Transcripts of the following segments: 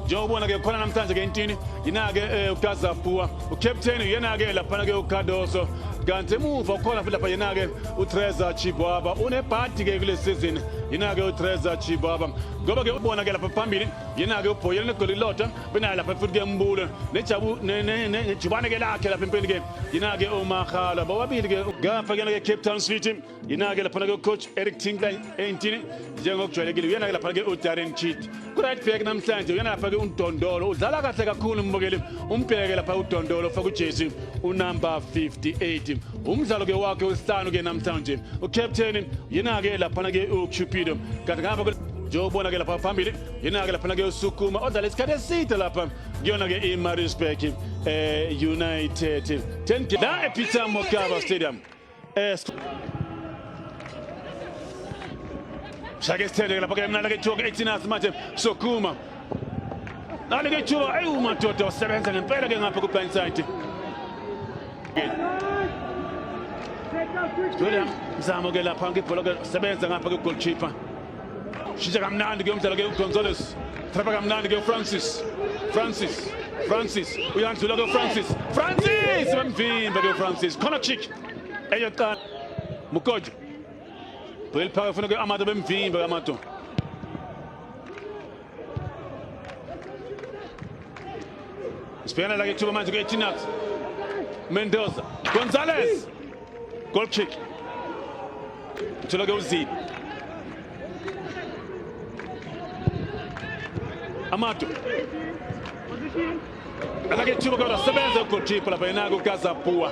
njengoba ke khona namhlanje ke intini yina-ke um eh, ukazapua ucaptain uyena-ke laphana-ke ucardoso kanti emuva ukhona futhi lapha yena-ke utreza chibwaba unebhadi-ke kule sizini yina-ke utreza chibwaba ngoba-ke ubona-ke lapha phambili yena-ke ubhoyela negoli lodwa benayo lapha futhi-ke mbulo nejubane-ke lakhe lapha empeni-ke yina-ke umahalo bobabili-ke gafa kuyena-ke cape town city Yina-ke laphana-ke ucoach Eric Tinkler eyintini njengokujwayelekile uyena-ke laphana-ke uDarren Cheat ku-right back namhlanje uyena lapha-ke uDondolo udlala kahle kakhulu mbukeli umbheke lapha uDondolo ufaka ujezi unumber 58 umdlalo-ke wakhe wesihlanu-ke namhlanje ucaptain yena-ke laphana-ke ucupido kanti ngapha njengokubona-ke lapha phambili yena-ke laphana-ke usukuma odlala isikhathi eside lapha kuyona-ke imarisburg um eh, united 10 la epeter mokaba stadium shake isithelekela phakela mna lake ithuba ku-18 manje sokuma nalike ithuba eyi umadoda wasebenza ngempela ke ngapha ku-blind side William Zamo ke lapha ngibhola ke sebenza ngapha ke goalkeeper shintsha kamnandi ke umdlalo ke ugonzales trapa kamnandi ke ufrancis francis francis uyandlula ke ufrancis francis bamvimba ke ufrancis khona chick eyokuqala mukojo buyeliphaka funa ke amato bemvimba amato Sibhekana la kethuba manje kuyethinax. Mendoza. Gonzalez. Goal kick. Uthola ke uZibi. Amato. Ala kethuba kodwa sebenza ugoalkeeper lapha yena kukaZabua.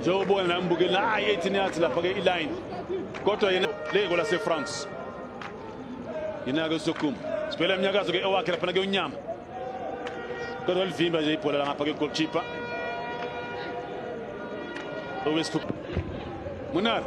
njengoba nami ngibukele naye ethi niyathi lapha-ke iline kodwa yena leyiko lasefrance yena-ke usokum sibhela imnyakazo-ke ewakhe laphana ke unyama kodwa livimba nje ibhola langapha kegolkipa okwesithupha munari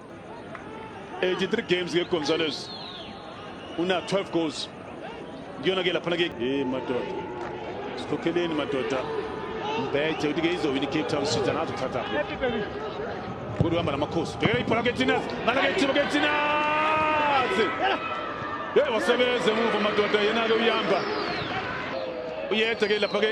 83 games ke Gonzalez una 12 goals kuyona ke laphana ke eh madoda sikhokheleni madoda mbethe uthi ke izowina iCape Town City anazo kuthatha kudu hamba namakhosi bhekela ibhola ke Tinas ngala ke Tibo ke Tinas hey wasebenze muva madoda yena ke uyamba uyethe ke lapha ke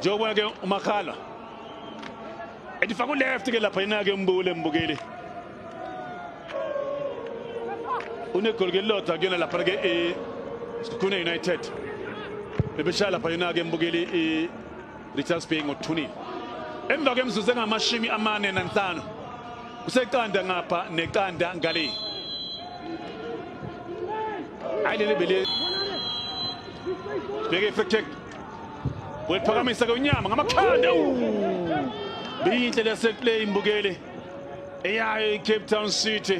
njengoba ke umakhala ethi faka uleft ke lapha yena ke umbukule mbukeli unegoli ke lodwa kuyona lapha ke e Sekhukhune United bebeshaya lapha yona ke mbukeli e Richards Bay ngothunile emva kwemizuzu engamashumi amane nanhlanu kuseqanda ngapha neqanda ngale hayi leli bele bheke effective wephakamisa konyama ngamakhanda biyinhle leseplay imbukeli eyayo icape town city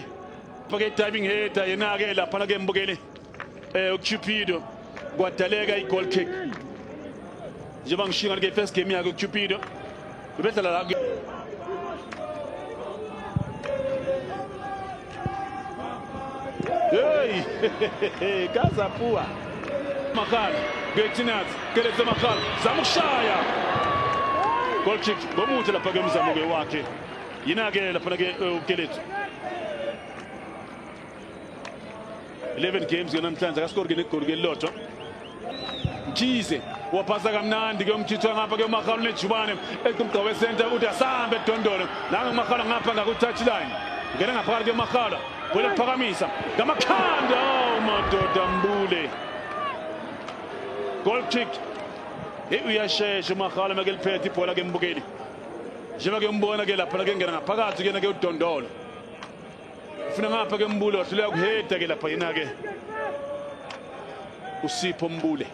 fake diving header yena-ke laphana ke mbukeli Eh uCupido kwadaleka igoal kick. Njengoba ngishinga ke first game yakhe uCupido. Ubedlala la Hey, kaza pua. Makhala, Betinaz, keleza Makhala, zamushaya. Goal kick, bomuthi lapha ke umzamo ke wakhe. Yina ke lapha ke ukelethu. 11 games ke namhlanje akaskori ke negoli ke lilodwa Mkhize waphasa kamnandi ke umkhithwa ngapha ke uMakhalu nejubane equmgqa wesenta uthi asambe edondolo nange uMakhalu ngapha ngaku touch line ngena ngaphakathi ke uMakhalu kwele kuphakamisa ngamakhanda oh madoda mbule goal kick hey uyashesha uMakhalu make liphethe ibhola ke mbukeli njengoba ke umbona ke lapha ke ngena ngaphakathi ke na ke udondolo ufuna ngapha ke mbule wahluleka kuheda ke lapha yena ke usipho mbule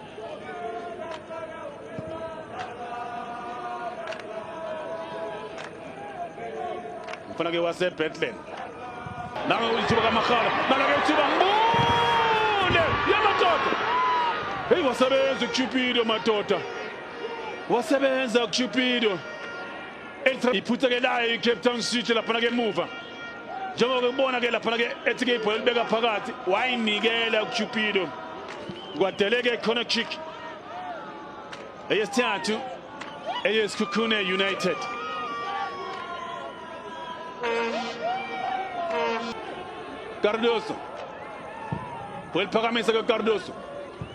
mfana ke wasebethlen nalo ithuba kamakhala nalo ke ithuba mbule yamadoda heyi wasebenza ucupido madoda wasebenza ucupido iphutha ke layo icape town city laphana ke muva njengoba kubona ke lapha ke ethi ke ibhola libeka phakathi wayinikela uCupido kwadeleke corner kick eyesithathu eyesikhukhune United Cardoso Fue el pagamento de Cardoso.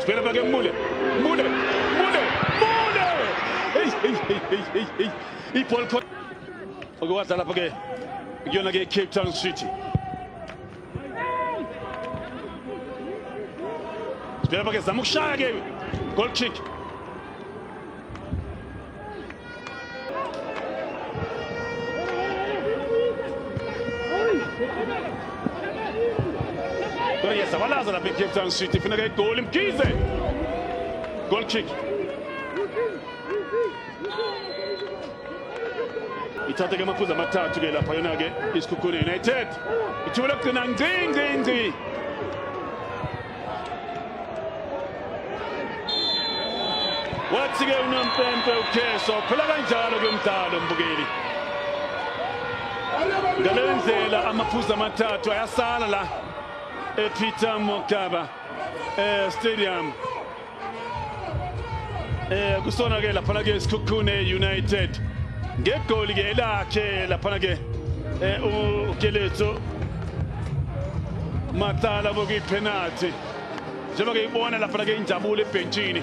Spela para quem Mule. Mule. Mule. Mule. Ei, ei, ei, ei, ei, ei. E Paul Oke wadlala pha ke kuyona ke Cape Town City. Spela pha ke zama ukushaya ke. Goal kick. Yesabalaza lapha eCape Town City funeka igoli Mkhize goal kick ithathe ke amaphuzu amathathu ke lapha yona ke isikhukhune United ithuba lokugcina ngci ngci ngci wathi-ke unompempe ukheso phela kanjalo ke umdalo mbukeli ngale ndlela amaphuzu amathathu ayasala la epeter mokaba eh, stadium eh kusona ke lapha ke isikhukhune United ngegoli ke elakhe lapha ke eh ukeletso matala bokuyi penalty njengoba ke ibona lapha ke injabulo ebhentshini